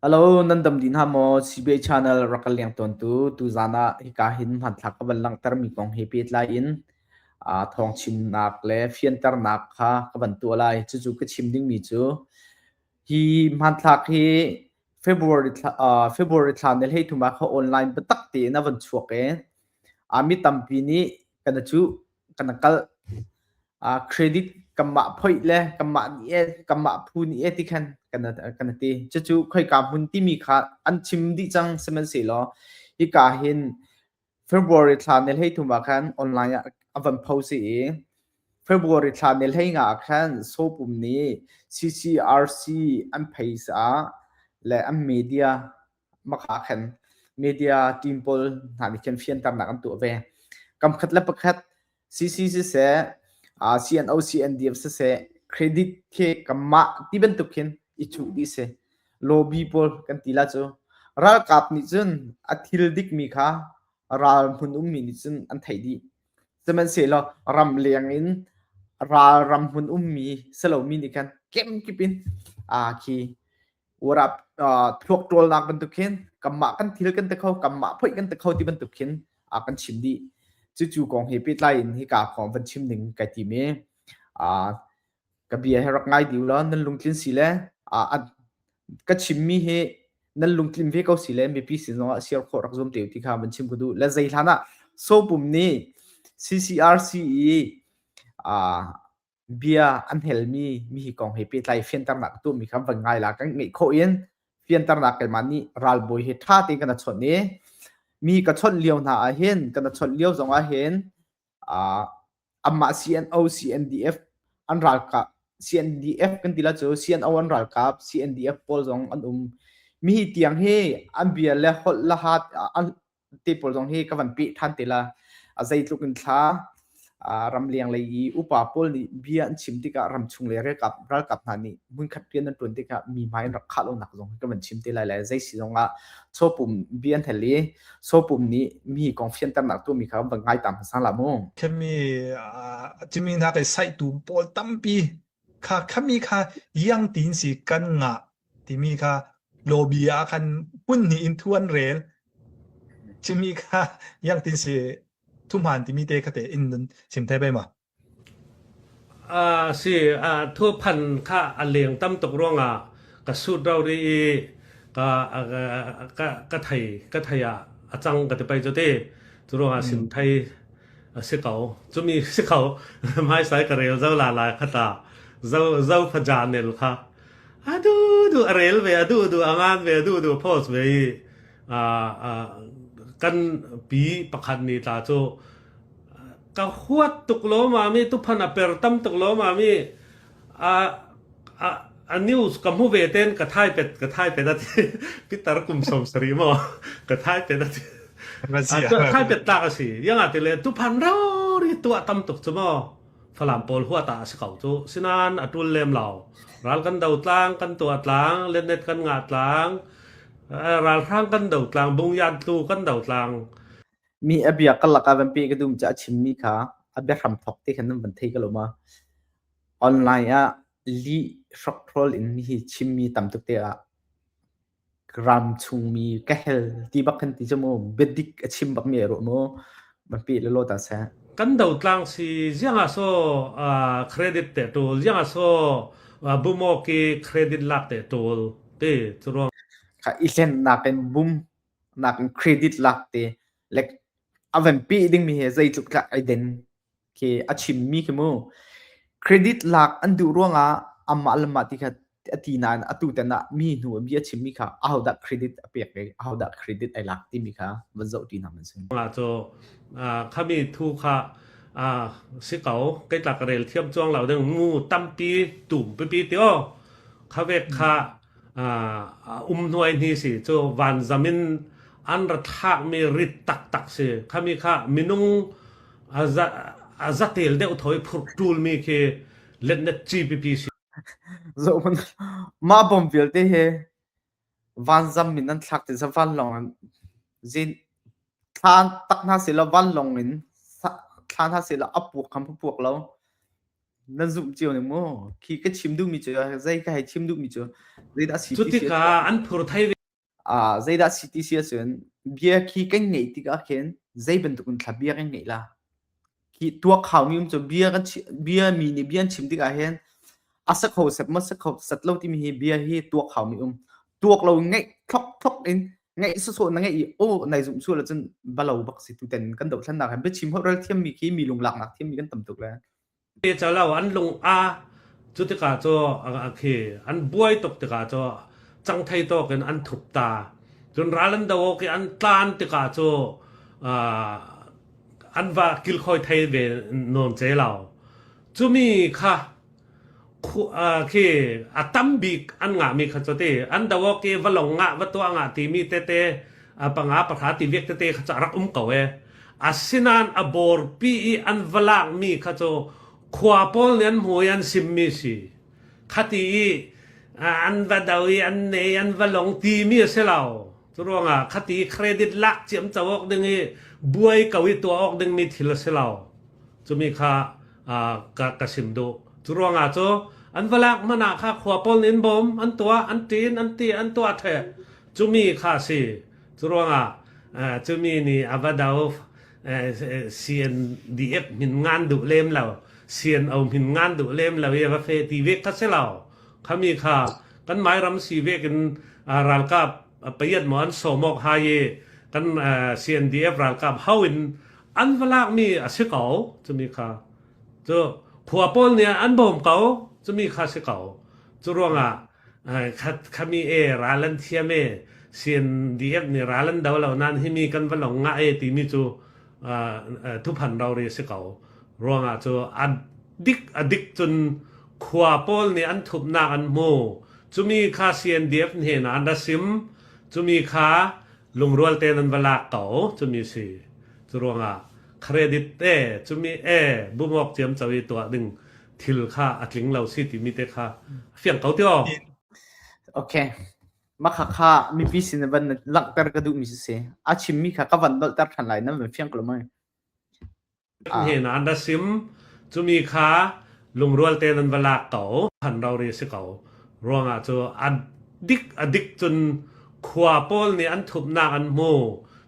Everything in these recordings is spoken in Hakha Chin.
Alo, nan dam dih hna maw? CBA Channel rak kan leng tawntu tuzaan ah hika hin hmanthlak ka van langhtermi kong he pehtlai in aa thawngchimnak le fianternak kha ka van tuah lai. Cucu ka chim dingmi cu hi hmanthlak hi February thla, uh, February thla ne hlei thum ah kha online biatak tein a van chuak i, a mi tampi nih kana cuh kan kalh uh, credit kanmah phoih le kanmah nih e kanmah phu nih e ti khan kan kan ti cucu khoika hmun timi kha an chim dih cang sihmanhsehlaw hika hin February thla ne hlei thum ah khan online ah a van post i February thla ne hlei nga khan sopum nih CCRC an phaisa le an media maka khan media team pawl hna nih khan fianternak an tuah ve kam khat le pakhat CC siseh uh, CNO CNDF siseh credit khi kamma ti bantuk khin i chu ti se lobby pawl kan ti la chu ralkap nih cun a thil dik mi kha ral hmun um mi nih cun an thei di sehmanhsehlaw ram leng in ral ram hmun um mi selo mi nih khan kemkip in a khi urap thluak ṭawlnak bantuk khin kanmah kan thil kan te kho kanmah phoih kan te kho ti bantuk khin a kan chim dih cucu kong he pehtlai in hika kong van chim ding kai tim i ka bia he rak ngai diu lo nan lungtlin si le ka chimmi hi nan lungtlin ve ko si le mipi sin zongah siar khawh rak zum te ti kha van chim ku du la zei hlan ah sopum nih CCRCE bia an helmi mi hi kong he pehtlai fianternak ka tuahmi kha van ngai la kan ngeih khawh in fianternak keimah nih ralbawi he ṭha tein kana chawnh i mi ka chawnh lio hna ah hin kana chawnh lio zong ah hin uh, amah CNO CNDF an ralkap CNDF kan ti la cu CNO an ralkap CNDF pawl zong an um mi tiang hi an bia le holh le hat an ti pawl zong hi ka van pih than te la a zeitluk in thla ramleng lei i upa pawl nih bia an chim tikah ramchung le ralkap ralkap hna nih munkhat rian an tuan tikah mi hmai in rak khah lonak zong ka van chim te lai lai zei si zong ah chawpum bia an hel i chawpum nih mi kong fianternak tu mi kha van ngai tam sang la mu kemi timi hna kai saihtu pawl tampi Kha khammi kha liang tiin si kan ngah timi kha lobby ah khan hmun hnih in thu an rel. Cumi kha liang tiin si thuhmaan timi te kha te in nun sim thai bai ma. Uh, si uh, thu phan kha a leng tam tuk ruangah ka sut rau ri i ka ka ka thai ka thai a cang ka te pai cho te. Cu ruangah sim thai A si ko. Cumi si ko. Hmaisai ka rel zo la la kha ta. Zo zo faja nel kha. A du du a rel ve a du du a ngan ve a du du post ve i a a kan pi pakhat ni ta chu ka huat tuk lo ma mi tu phan a per tam tuk lo ma mi A news ka hmu ve ten ka thai pet a ti. Pitar kum som sari maw ka thai pet a ti. Thai pet tlak a si. Yang ati le tu pan rori tua tam tuk cu maw Falam pawl hua ta a si kau cu. Sinan atul lem lau. Ral kan do tlang kan tua tlang lennet kan nga tlang ral hrang kan do tlang bung yan tlu kan do tlang mi abia kalak avan pe ka dum cha chim mi kha abia hram thok te khan nan van thei ka loma Online ah lih hrokhrawl in hihi chimmi tamtuk te ah ram chungmi ka hel ti bak kan ti cu mu biadik a chim bakmi a ruah mu. Van pih le law ta seh. Kan do tlang si zianga so uh, credit te tul zianga so uh, bumo ki credit lak te tul ti cu ruang. Ka ihlen nak in bum nak in credit lak te like avan pi ding mi hi zeitluk tlak ai den. a chimmi khi mu credit lak an duh ruangah amah le mah ti kha a ti nain atu ten ah mi hnu mi a chimmi kha ahodah credit a pek i ahodah credit ai lak timi kha van zoh ti hna man si. La cu khami thu kha si ko kai tlak rel thiam chuang lo ding mu tampi tum pipi tio khawek kha a um hnuai hni si cu van zam in an ra thakmi rit taktak si khami kha minung a zatel deuh thoi phur ṭulmi khi letnet ci pipi si zohman mah bom vialte he van zam min an thlak tin sa van long an zin thlan tak hna sila van long in thlan hna sila apuak kham puak lo nan zumh cio ni maw khi ka chim duhmi cu zei ka hei chim duhmi cu zeidah CTC cutikah an phur thai ve a zeidah CTC cun bia khi kan ngeih tikah khin zei bantuk in thla bia kan ngeih la khi tuak khaumi um cu bia kan bia mi nih bia an chim tikah hin asak ho sep ma sak ho sat lo timi hi bia hi tuak khaumi um tuak lo ngeih thok thok in ngeih su so na ngeih i o nai zum su la cun balo bak si tu ten kan do thlan nak han be chim ho rel thiam mi khi mi lung lak nak thiam mi kan tam tuk le Te calo an lung a cu tikah cu an buai tuk tikah cu cang thei tawk in an thup ta. Cun ral an do awk i an tlan tikah cu an va kilkhawi thei ve nawn ce lo. Cu mi kha khi a tam bik an ngahmi kha cu ti an do ke va long ngah va tuah ngah timi tete a panga pahra ti vek tete kha cu rak um ko e asinan a bor pi i an va lakmi kha cu khua pawl nih an hmui an simmi si khati i an va do i an nei an va long timi a si lo Curuangah khati credit lak ciam co awk ding i buai ko i tuah awk dingmi thil a si lo. Cumi kha ka, ka sim duh. Curuangah cu an va lak man ah kha khua pol in bom an tuah an ṭin an ti an tuah the cumi kha si. Curuangah cumi nih a va dau CNDF min ngan duh lem lo CNO min ngan duh lem lo i a va fe ti vek kha si lo Khami kha kanmah ram si vek in ralkap payat maw an sawm awk hai i kan CNDF ralkap hau in an va lakmi a si ko cumi kha cu khua pawl nih an bawm ko cumi kha si ko cu ruangah khami e ral an thiam e CNDF nih ral an do lo nain hi mi kan va long ngah e timi cu thuphan rori a si ko ruangah cu a dik a dik cun Khua pawl nih an thupnak an hmu. Cumi kha CNDF hnenah an ra sim. Cumi kha lungrual tein an va lak ko. Cumi si. Curuangah credit te, cumi e, bumawk ciam co i tuah ding thil kha a tling lo si timi te kha a fiang ko ti o. Okay. Makhakha mipi sin van langhter ka duhmi si. A chimmi kha ka van dolhter than lai nan van fiang ko mai. A hnen ah na sim. Cumi kha lungrual te nan va lak ko. An rori si ko. Ruangah cu a dik a dik cun khua pawl nih an thupnak an hmu.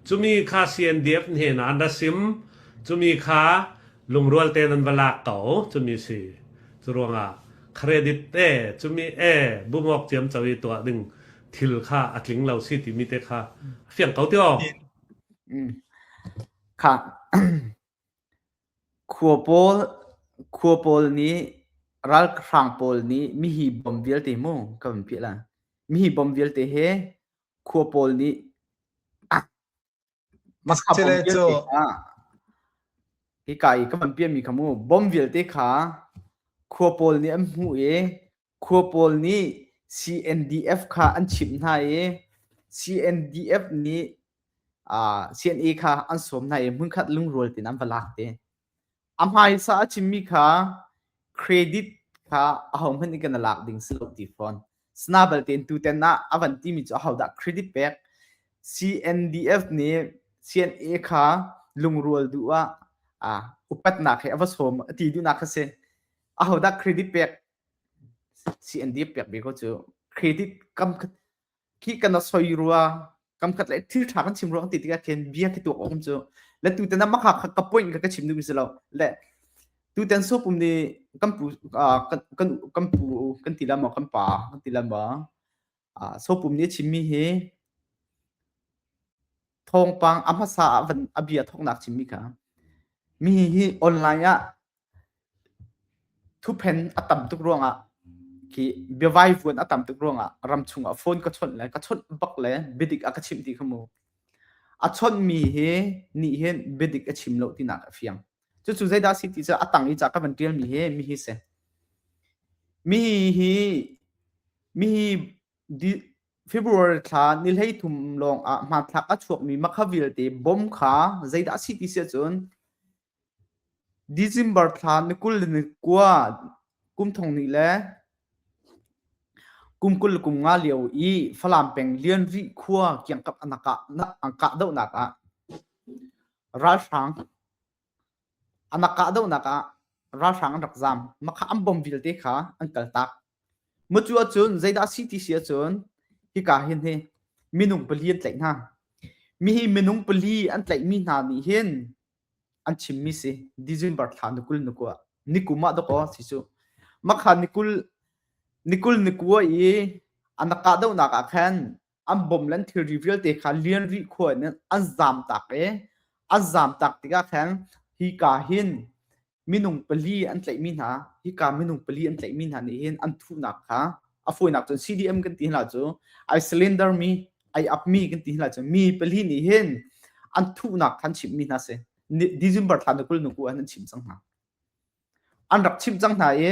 Cumi kha CNDF hnen ah na sim. Cumi kha lungrual te nan va lak ko. Cumi si. Cu ruangah credit te cumi e bumok ciam cawi tuah ding thil kha a tling lo si timi te kha fiang ko tio. Khua pawl nih ralhrang pawl nih mihi bom vialte mu kan vun piah lai. Mihi bom vialte he khua pawl nih masa bom vialte kha hika i kan piahmi kha mu bom vialte kha khua pawl nih an hmuh i Khua pawl nih CNDF kha an chimh hna i CNDF nih CNA kha an sawm hna i hmunkhat lungrual tein an va lak te. A hmaisa a chimmi kha credit kha ahohmanh nih kan i lak ding si lo ti fawn. Sina balte in tutan ah a van timi cu ahodah credit pek CNDF nih CNA kha lungrual duh ah upatnak he a va sawm a ti duhnak kha si. Ahodah credit pek Si an dip piak ve ko cu. Credit kamkhat khi kan soi rua kamkhat le thil tha kan chim rua kan ti tikah khin bia khi tuak awm cu le tu ten maka ka point ka ka chim ding mi si lo le tu ten so pum ni kan pu kan kan kan pu kan ti lam kan pa kan ti lam so pum ni chim mi hi thawngpang a hmasa ah van a bia thawknak chim mi kha mi hi online ah Thuphen a tam tuk ruangah khi biavai vuan a tam tuk ruangah ram chungah phone ka chawnh le ka chawnh bak le biadik a ka chimh ti kha mu. A chawnhmi hi nih hin biadik a chim lo tinak a fiang. Cucu zeidah a si ti cu a tang i ca ka van ṭialmi hi mi hi si. Mi hi mi hi di- February thla ni hlei thum lawng ah hmanthlak a chuakmi makha vialte bom kha zeidah a si ti si ahcun December thla na kul le na kua kum thong hnih le kum kul le kum nga lio i Falam peng Lianvih khua kiangkap a kah dohnak ah ralhrang an rak kah dohnak ah ralhrang an rak zaam. Maka an bom vialte kha an kaltak. Mucu ahcun zeidah a si ti si ahcun hika hin hi minung pali an tlaih hna. Mihi minung pali an tlaihmi hna nih hin an chimmi si December thla ni kul ni kua ni kum ah dok aw si cu makha ni kul ni kul ni kua i anak kahdohnak ah khan an bom len thilri vialte kha lian rih khua in an zam tak i an zam tak tikah khan hi ka hin minung pali an tlaihmi hna hika minung pali an tlaihmi hna nih hin an thuhnak kha a fawinak cun CDM kan ti hla cu ai cylinder mi ai up mi kan ti hla cu mi pali nih hin an thuhnak khan chimmi hna si December thla na kul nu ku an chim cang hna an rak chim cang hna i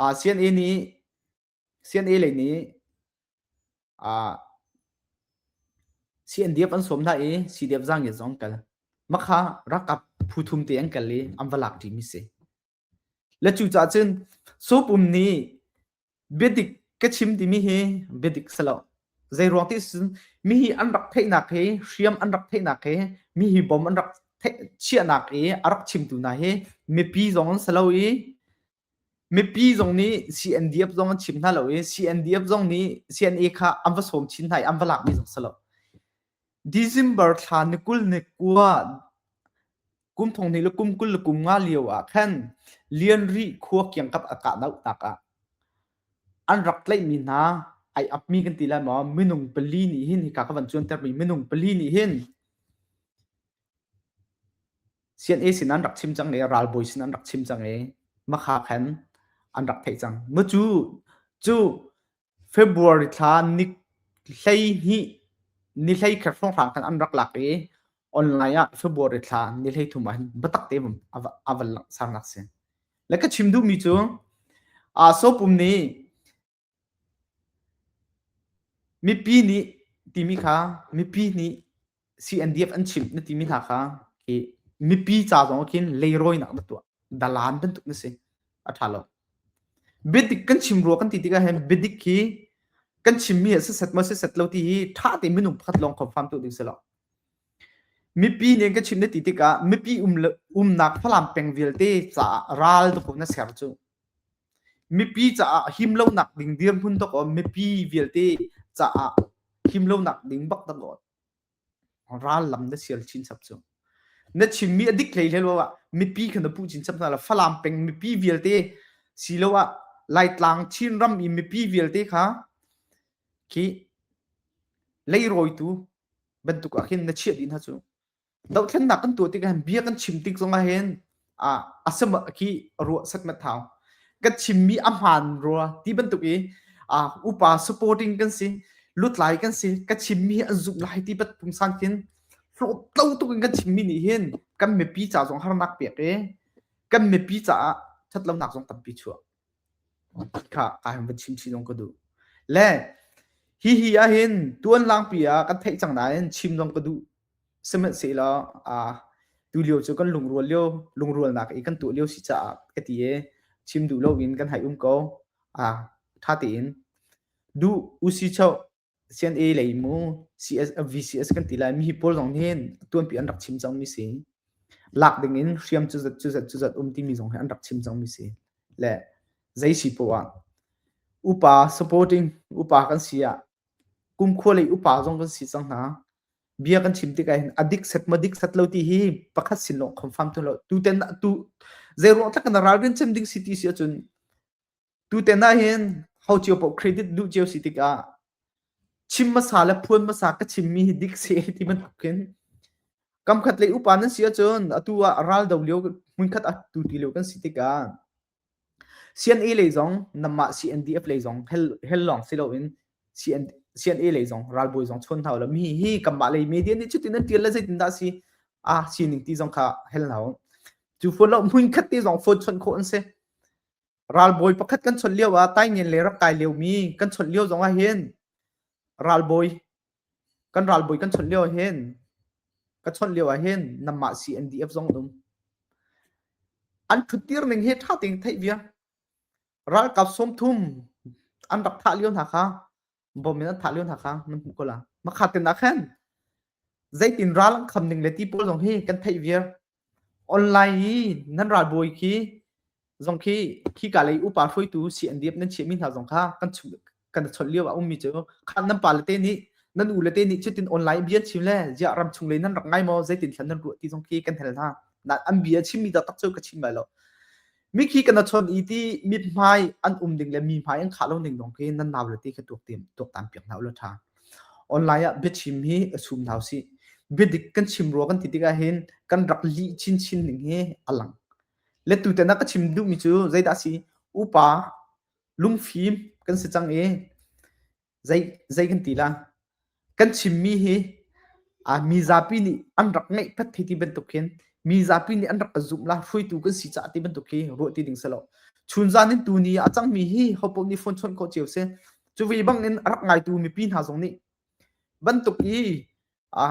Ah CNA nih CNA lei nih ah CNDF an sawm hna i CDF zangiat zong an kal. Makha rakap phu thum te an kal i an va lak ṭimi si. Le cu ca cun supum nih biadik ka chim timi hi biadik salo. Zei ruang ti cun mi hi an rak theihnak hi hriam an rak theihnak hi mi hi bom an rak theih chiahnak i a rak chimtu hna hi mipi zong an salo i Mipi zong nih CNDF zong an chim hna lo i CNDF zong nih CNA kha an va sawm chin hna i an va lak mi zong si lo. December thla ni kul ni kua kum thong hnih le kum kul le kum nga lio ah khan Lianrih khua kiangkap a kah doh tak ah an rak tlaih mi hna ai ap mi kan ti lai maw? Minung pali nih hin hika ka van cuanter mi minung pali nih hin Sian-e sin an rak chim cang i ralbawi sin an rak chim cang i makha khan an rak theih cang. Mu cu cu February thla ni hleihnih ni hlei kher hrawnghrang khan an rak lak i online ah February thla ni hlei thum ah hin biatak tein a van langhsar nak a si. Le ka chim duhmi cu aa sawpum nih Mipi nih timi kha mipi nih CNDF an chim na timi hna kha hi mipi ca zong ah khin leirawinak na tuah dalaan bantuk na si a ṭha lo. Biadik kan chim rua kan ti tikah hin biadik hi kan chimmi he sisat maw sisat lo ti hi ṭha tein minung pakhat lawng confirm tu ding si lo. Mipi nih kan chim na ti tikah mipi um umnak Falam peng vialte caah ral dawh na ser cu. Mipi caah him lonak ding dirhmun tok awm mipi vialte caah him lonak ding bak dang awt. Ral lam na sial chin chap cu. Na chinmi a dik hlei hlei lo ah mipi kha na puh chin chap hna la Falam peng mipi vialte si lo ah Laitlang Chin ram i mipi vialte kha khi leirawitu bantuk ah khin na chiah din ha cu. dohthlennak kan tuah tikah hin bia kan chim tik zong ah hin a a sem khi rua sak na thau ka chimmi a hmaan rua ti bantuk i a upa supporting kan si lutlai kan si ka chimmi an zuk lai ti bat pung sang khin flo tlo tuk in kan chimmi nih hin kan mipi ca zong harnak pek e kan mipi caah ṭhat lonak zong tampi chuah kha ai van chim chih zong ka duh le hihi ahhin tuan langpi ah kan theih cang nain chim zong ka duh sihmanhsehlaw a tu lio cu kan lungrual lio lungrualnak i kan tuah lio si caah ka ti e chim duh loin kan hai um ko a ṭha tein duh usi chau CNA lei mu CS VCS kan ti lai mi hi pawl zong nih tuanpi an rak chim cangmi si lak dingin hriam cu zat cu zat cu zat um timi zong hi an rak chim cangmi si le zei si poah upa supporting upa kan si ah kumkhua lei upa zong kan si cang hna bia kan chim tik ahhin adik set ma dik set lo ti hi pakhat sin lawng confirm tu lo tu ten tu zei ruang tak na ralrin chem ding si ti si ahcun Tutan ah hin ho cio paoh credit duh cio si tikah chim hmasa le phuan hmasa ka chimmi hi dik si ti bantuk hin kamkhat lei upa nan si ahcun atu ah ral do lio hmunkhat a tu ti lio kan si tikah CNA lei zong namah CNDF lei zong hel hel lawng si loin CN CNA lei zong ralbawi zong chon hau lo mi hi kanmah lei media nih cutin nan tial le zeitin dah si a sining ti zong kha hel hau cu phone lo hmunkhat te zong phone chon khawh an si ralbawi pakhat kan chawnh lio ah taingen le rak kai liomi kan chawnh lio zong ah hin ralbawi kan ralbawi kan chawnh lio ah hin ka chawnh lio ah hin namah CNDF zong dum an ṭhuttir ning hi ṭha tein theih bia ralkap sawm thum an rak thah lio hna kha bom in an thah lio hna kha nan hmuh ko la makhat tin ah khan zeitin ral an kham ning le ti pawl zong hi kan theih viar online i nan ral bawi khi zong khi khi ka lei upa hruaitu si an diep nan chia mi hna zong kha kan kan chol lio a um mi chu khan nan pa le te nih nan u le te nih chutin online bia chim le zia ram chung le nan rak ngai mo zeitin thlan nan ruah ti zong khi kan hel hna na an bia chim mi da tak chu ka chim bai lo mikhi kan chon i ti mit hmai an um ding le mi hmai an kha lo ning dong ke nan naw le ti kha tuak tim tuak tam piak na ula tha online ah biachim hi asum naw si bidik kan chim ro kan ti tika hin kan rak li chin chin ning hi alang le tu te na ka chim du mi chu zaida si upa lungfim kan si chang e zei zei kan ti la kan chimmi hi a mi zapi nih an rak ngeih phat thi ti bantuk hin mi zapi nih an rak ka zumh la hruaitu kan si caah ti bantuk hi ruah ti ding selo chun zan in tu ni a cangmi hi hopoh nih phone chawnh khawh cio se cu vi bang in a rak ngaitu mipi hna zong nih bantuk i a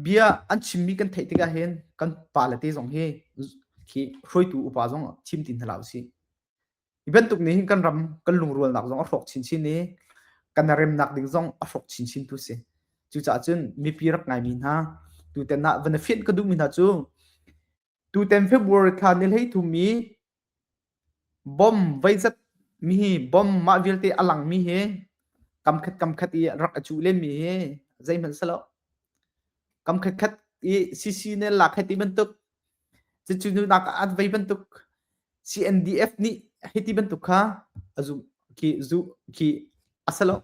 bia an chimmi kan theih tikah hin kan pale te zong hi khi hruaitu upa zong thim tin hna la usih hi bantuk nih hin kan ram kan lungrualnak zong a hrawk chinchin i kan remnak ding zong a hrawk chinchin tu si cucaah cun mipi rak ngaimi hna tutan ah van a fianh ka duhmi hna cu Tutan February thla ni hleithum i bomb veizat mi hi bomb mah vialte a lang mi hi kamkhat kamkhat i rak a cuh len mi hi zeihmanh si lo. Kamkhat khat i CC ne lak heti bantuk cucu nunak at vei bantuk CNDF nih hiti bantuk kha a zumh ki zu ki a si lo.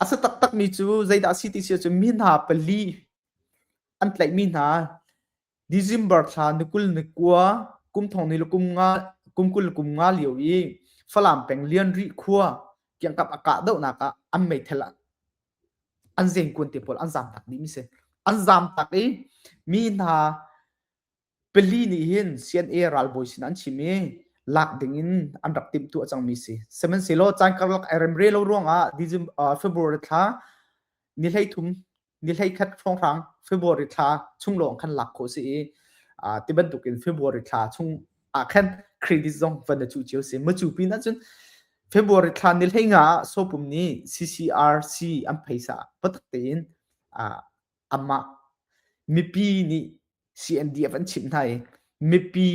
A si taktak mi cu zeidah a si ti sia cu mi hna pali an tlaih mi hna December thla ni kul ni kua kum thong ni le kum nga kum kul le kum nga lio i Falam peng Lianri khua kiangkap a kah dohnak ah an meithal an zengkuan te pawl an zam tak dih mi si an zam tak i mi hna pali nih hin CNA ralbawi sin an chim i lak ding in an rak timh tu a cang mi si sihmanhsehlaw caan karlak ai remre lo ruang ah December February thla ni hleithum ni hleikhat hrawnghrang February thla chung lawng khan lak khawh si i ti bantukin February thla chung ah khan credit zong van cu cio si macu pin ahcun February thla ni hlei nga sopum ni CCRC an phaisa patak tein amah mipi nih CNDF an chimh hna i mipi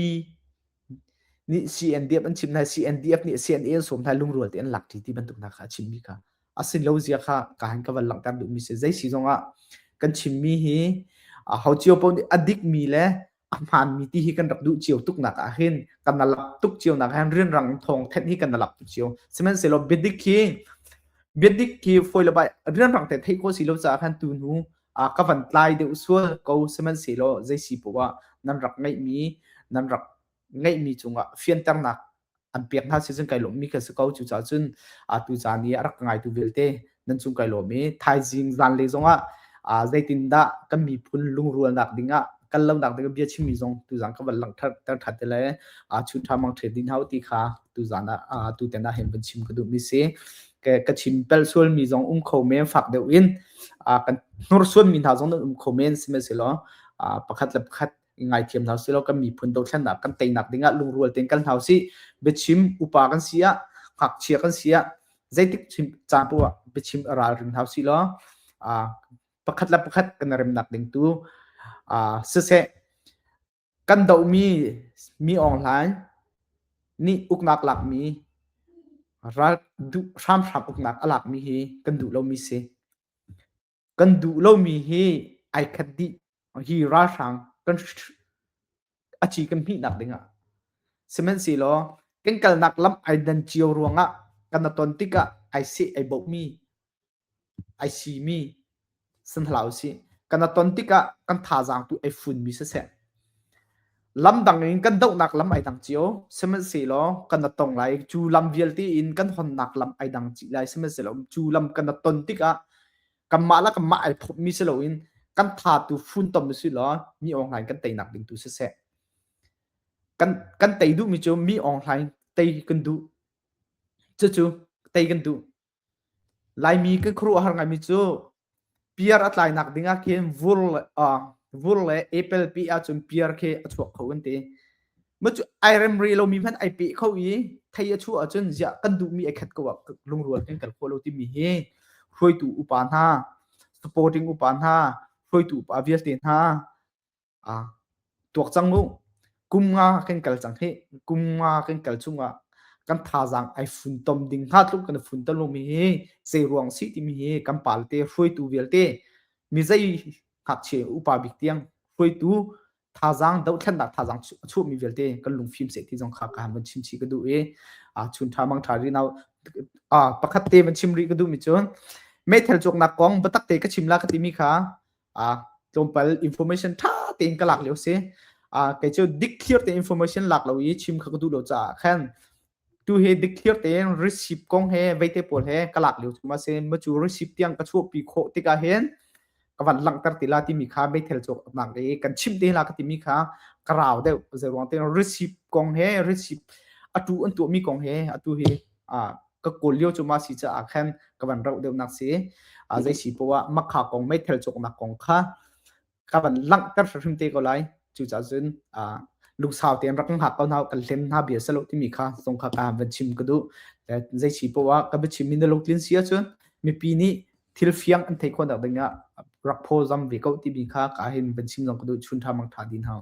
nih CNDF an chimh hna CNDF nih CNA an sawm hna lungrual te an lak ṭi ti bantuk hna kha a chimmi kha a sin lo zia kha ka han ka van langhter duhmi si zei si zong ah kan chimmi hi ho cio pau nih a dikmi le a hmaanmi ti hi kan rak duh cio tuk nak ah hin kan na lap tuk cio nak ah rian rang thong thet hi kan na lap tuk cio sihmanhsehlaw biadik hi biadik hi foi le bai rian rang te thei ko si lo caah khan tu nu ah ka van tlai deuh sual ko sihmanhsehlaw zei si poah nan rak ngeihmi nan rak ngeihmi cungah fianternak an pek hna si cun kai lawmmi ka si ko cucaah cun atu caan i a rak ka ngaitu vialte nan cung kai lawm i thaizing zanlei zongah zeitindah kan miphun lungrualnak dingah kan lonak dingah bia chimmi zong tuzang ka van langhter ter ṭhat te le chun ṭha mang ṭhe din hau ti kha tuzan ah tu ten ah hen van chim ka duhmi si ka, ka chim pel sualmi zong um kho men fak deuh in uh, kan hnursuanmi hna zong nan um kho men sihmanhsehlaw uh, pakhat le pakhat ngai thiam hna silo kan miphun dothlan ah kan teinak dingah lungrual ten kan hlau si biachim upa kan si ah ngakchia kan si ah zeitik chim capu ah biachim ralrin hau si lo uh, pakhat le pakhat kan remnak ding tu uh, siseh Kan dohmi mi awnglai nih uknak lakmi ral duh hramhram uknak a lakmi hi kan duh lomi si. Kan duh lomi hi ai khat dih hi ralhrang kan a ci kan hmihnak dingah. Sihmanhsehlaw kan kalnak lam ai dan cio ruangah kan i ton tikah ai seh ai bohmi Ai simi san hlah usih. Kan a ton tikah kan thazaang tu ai funmi siseh, lam dang in kan dohnak lam ai dang cio. Sihmanhsehlaw kan a tong lai. Cu lam vialte in kan honnak lam ai dang chih lai. Sihmanhsehlaw cu lam kan a ton tikah kanmah le kanmah ai thawpmi si loin kan tha tu funtom usih law mi awnghlain kan teinak ding tu siseh. Kan, kan tei duhmi cu mi awnghlain tei kan duh. Cucu tei kan duh. Laimi kan khuaruahhar ngaimi cu piar a tlainak ding ah khin vur le vur le apple peh ahcun piar khi a chuak kho an ti. Mah cu ai rem rih lomi hmanh ai peh kho i thei a chuah ahcun ziah kan duhmi ai khat ko ah lungrual kan kal khawh lo timi hi hruaitu upa hna, supporting upa hna, hruaitu upa vialte hna ah tuak cang mu kum nga kan kal cang hi kum nga kan kal chung ah kan thazaang ai fun tom ding hna tluk kan fun tom mi hi se ruang si ti mi hi kan pal te hruaitu vialte mi zei ngakchie upa bik tiang hruaitu thazang do thlen nak thazang chu mi vialte kan lung phim se ti jong kha ka han chim chi ka du e a chun tha mang tha ri naw a pakhat te van chim ri ka du mi chun methel chok nak kong batak te ka chim la ka ti mi kha uh, tlawmpal information tha tein ka lak lio si uh, kei cu dikthlir te information lak lo i chim kha ka duh lo caah khan tu he dikthlir tein receipt kong he veite pawl he ka lak lio thuma se ma cu receipt tiang ka chuak pi khawh tikah hen ka van langter tila timi kha meithel chuak nak i kan chim te la ka timi kha ka rau deuh zeruang te receipt kong he receipt atu an tu mi kong he atu hi ka kawl lio cu ma si caah khan ka van rauh deuh nak si zei si po ah makha kong meithal cuk nak kong kha ka van langhter hrim te ko lai cu ca cun lungsau ten rak ha ko nau kan hlen ha bia salo timi kha song kha ka van chim ka du zei si po ah ka ba chim min lok tlin sia cun mipi ni thil fiang an thei khon dak ding ah rak pho zam ve ko ti mi kha ka hin ban chim zong ka du chun tha mang tha din hau